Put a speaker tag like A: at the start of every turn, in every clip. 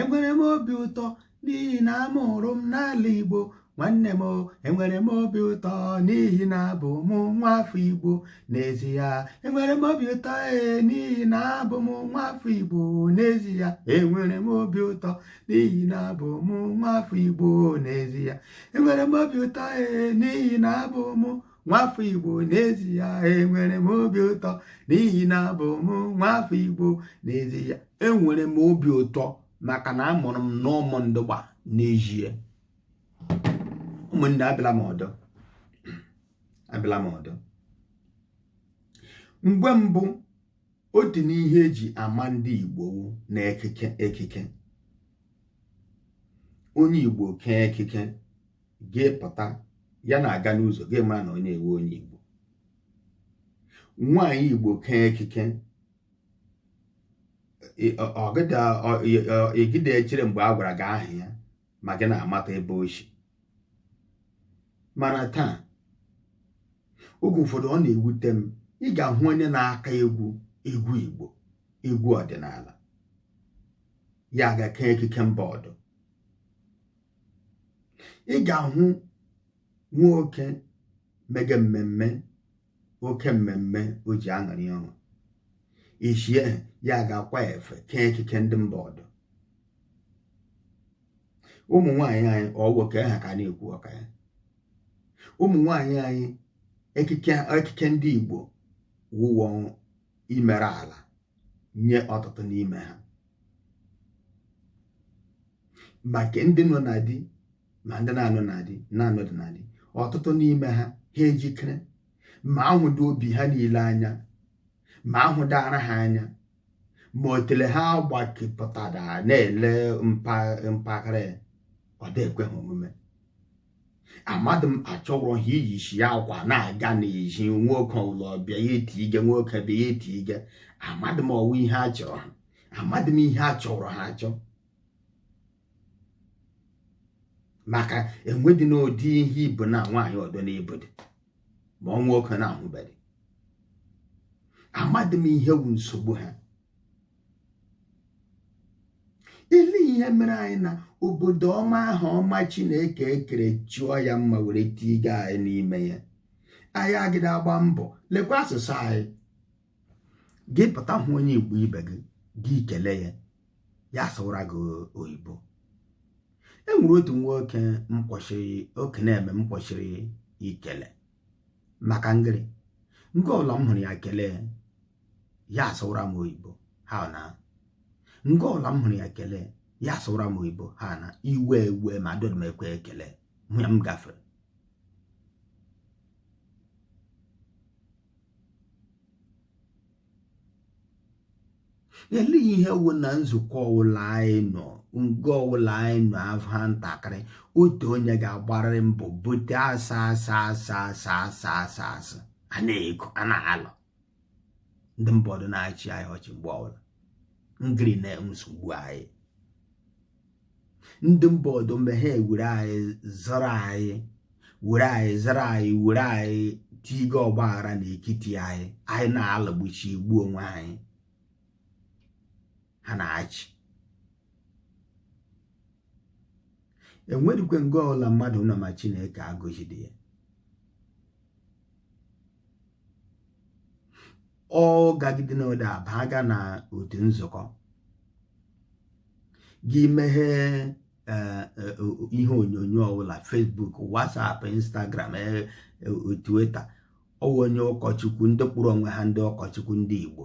A: enwere
B: m obi ụtọ n'ihi na amụrụ m n'ala Igbo nwanne m enwere m obi ụtọ n'ihi na abụ m nwa afọ Igbo n'ezie enwere m obi ụtọ ee n'ihi na abụ m nwa afọ Igbo n'ezie enwere m obi ụtọ n'ihi na abụ m nwa afọ Igbo n'ezie enwere m obi ụtọ ee n'ihi na abụ m nwafọ igbo n'ezi ya enwere m obi ụtọ n'ihi na abụ m nwafọ igbo n'ezi ya enwere m obi ụtọ maka na amụrụ m n'ụmụndụgba n'ezie ụmụnne abịala m ọdọ abịala m ọdọ mgbe mbụ otu n'ihe eji ama ndị igbo na ekike ekike onye igbo kee ekike gị pụta ya na-aga n'ụzọ gị mara na onye a wụ onye Igbo nwaanyị Igbo kee ekike ị gịda echere mgbe a gwara gị aha ya ma gị na-amata ebe o shi mana taa oge ụfọdụ ọ na-ewute m ị ga-ahụ onye na-aka egwu egwu Igbo egwu ọdịnala ya ga kee ekike mba ọdọ ị ga-ahụ nwoke mege mmemme oke mmemme o ji aṅụrị ọṅụ ishie ya ga-akwa efe kee ekike ndị mba ọdọ ụmụ nwaanyị anyị ọ wụ ke ha ka a na-ekwu ụka ya ụmụ nwaanyị anyị ekike ndị Igbo wụwọ imere ala nye ọtụtụ n'ime ha ma nke ndị nọ na di ma ndị na-anọ na di na-anọdị na di ọtụtụ n'ime ha ha ejikere ma ahụdị obi ha niile anya ma ahụdị ara ha anya ma otele ha agbakepụtadị na-ele mpaghara ọ dị ekwe ha omume amadị m achọrọ ha iyishi ya akwa na-aga n'ezi nwoke ọwụla bịa ya etiige nwoke bịa ya etiige amadị m ọ wụ ihe a chọrọ ha amadị m ihe a chọrọ ha achọ maka enwedị n'ụdị ihe i bu na nwaanyị ọdọ na-ebudị ma ọ nwoke na-ahụbedị amadị m ihe wu nsogbu ha ị lee ihe mere anyị na obodo ọma ahụ ọma chineke kere chọọ ya mma were tiige anyị n'ime ya anyị agịda agba mbọ lekwa asụsụ anyị gị pụta hụ onye igbo ibe gị gị kele ya ya asụwara gị oyibo e nwere otu nwoke m kwụshịrị okenye m kwụshịrị ikele maka ngịrị nga ọbụla m hụrụ ya kelee ya asụwara m oyibo ha na nga ọbụla m hụrụ ya kelee ya asụwara m oyibo ha na iwe ewee m adịdị m ekwe ekele hụ ya m gafere elee ihe wụ na nzukọ ọwụla anyị nọ nga ọwụla anyị nọ aha ntakịrị otu onye ga-agbarịrị mbọ bute asa asa asa asa asa asa asa a na-ego a na-alụ ndị mba ọdọ na-achị anyị ọchị mgbe ọbụla ngịrị na-enwe nsogbu anyị ndị mba ọdọ mgbe ha ewere anyị zọrọ anyị were anyị zọrọ anyị were anyị tiga ọgba aghara na ekiti anyị anyị na-alụgbuchi egbu onwe anyị ha na-achị enwedikwe nga ọbụla mmadụ nọ ma Chineke agọzide ya ọ gagide na ode aba aga na otu nzukọ gị meghee eh, eh, ihe onyonyo ọbụla Facebook WhatsApp Instagram eh, Twitter ọwụ onye ụkọchukwu ndị kpọrọ onwe ha ndị ụkọchukwu ndị Igbo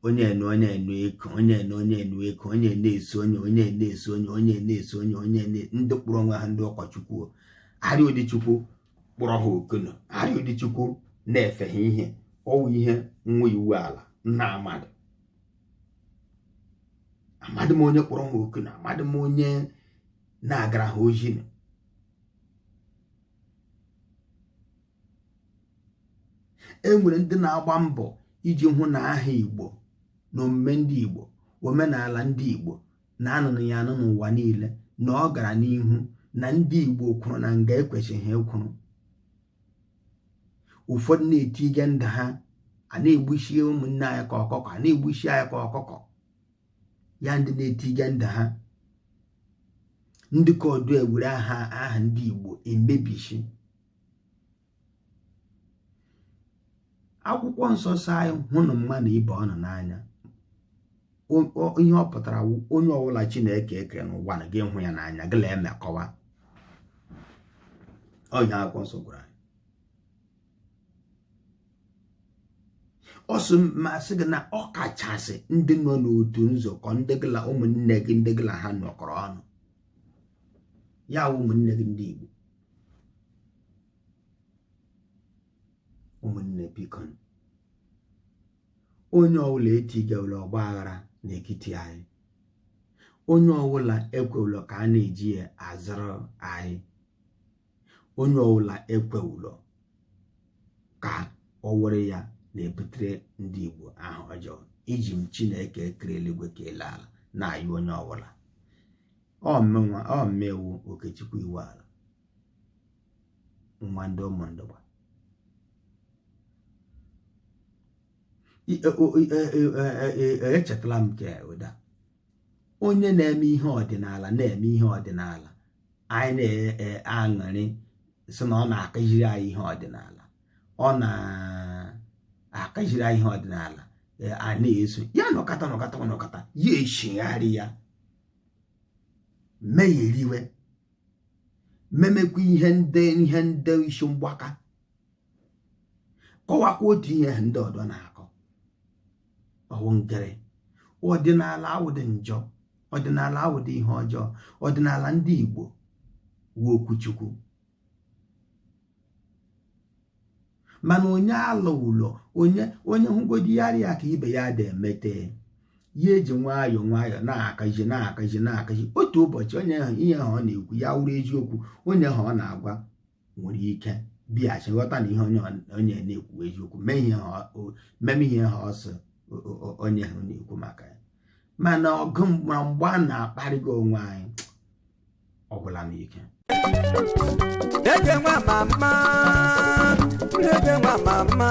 B: onye enu onye enu eko onye enu onye enu eko onye na-eso onye onye na-eso onye onye na-eso onye onye ndị kpọrọ onwe ha ndị ụkọchukwu arịa ụdị chukwu kpọrọ ha oku nụ arị ụdị chukwu na-efe ha ihe ọwụ ihe nwa iwu ala nna amadị amadị m onye kpọrọ ha oku nụ amadị m onye na-agara ha ozi e nwere ndị na-agba mbọ iji hụ na aha igbo na omume ndị igbo omenala ndị igbo na anụnụ ya anụ n'ụwa niile na ọ gara n'ihu na ndị Igbo kwụrụ na nga ekwesịrị ịkwụrụ ụfọdụ na-etige ndụ ha a na-egbuchi ụmụnne anyị ka ọkụkọ a na-egbuchi anyị ka ọkụkọ ya ndị na-etige ndụ ha ndị ka ọdọ ewere aha aha ndị Igbo emebichi akwụkwọ nsọ sị anyị hụnụ mmadụ ibe ụnụ n'anya ihe ọ pụtara wụ onye ọbụla chineke ekere n'ụwa na gị hụ ya n'anya gịla emekọwa onye akwụkwọ nsọ gwara anyị ọ sị masị gị na ọ kachasị ndị nọ n'otu nzukọ ndị gịla ụmụnne gị ndị gịla ha nọkọrọ ọnụ ya wụ ụmụnne gị ndị Igbo ụmụnne biko onye ọbụla etigawula ọgba aghara n'etiti anyị onye ọbụla ekwewula ka a na-eji ya azụrụ anyị onye ọbụla ekwewula ka ọ wụrụ ya na-ebutere ndị Igbo aha ọjọọ eji m Chineke kere eluigwe kee elu ala na-ayọ onye ọbụla ọ mụnwa ọ mụ wụ Okechukwu Iwuala nwa ndị Umundugba echetala m nke ụda onye na-eme ihe ọdịnala na-eme ihe ọdịnala anyị na-aṅụrị sị na ọ na-akụziri anyị ihe ọdịnala ọ na-akụziri anyị ihe ọdịnala a na-eso ya nọkata nọkata nọkata ya echigharịa megheriwe memekwa ihe ndị ihe ndị isi mgbaka kọwakwa otu ihe ahụ ndị ọdọ na-akọ ọ wụ ngịrị ọdịnala awụdị njọ ọdịnala awụdị ihe ọjọọ ọdịnala ndị Igbo wụ okwu Chukwu mana onye alụ ụlọ onye onye hụgodi ya ya ka ibe ya dị emete ya eji nwayọ nwayọ na-akụzi na-akụzi na-akụzi otu ụbọchị onye ahụ ihe ahụ ọ na-ekwu ya wụrụ eziokwu onye ahụ ọ na-agwa nwere ike bịaghachi ghọta na ihe onye na-ekwu eziokwu meme ihe ahụ ọsọ onye ahụ na-ekwu maka ya mana ọgụ na mgba na-akparịga onwe anyị ọ gwụla m
A: ike Okey nwa mama, Okey nwa mama.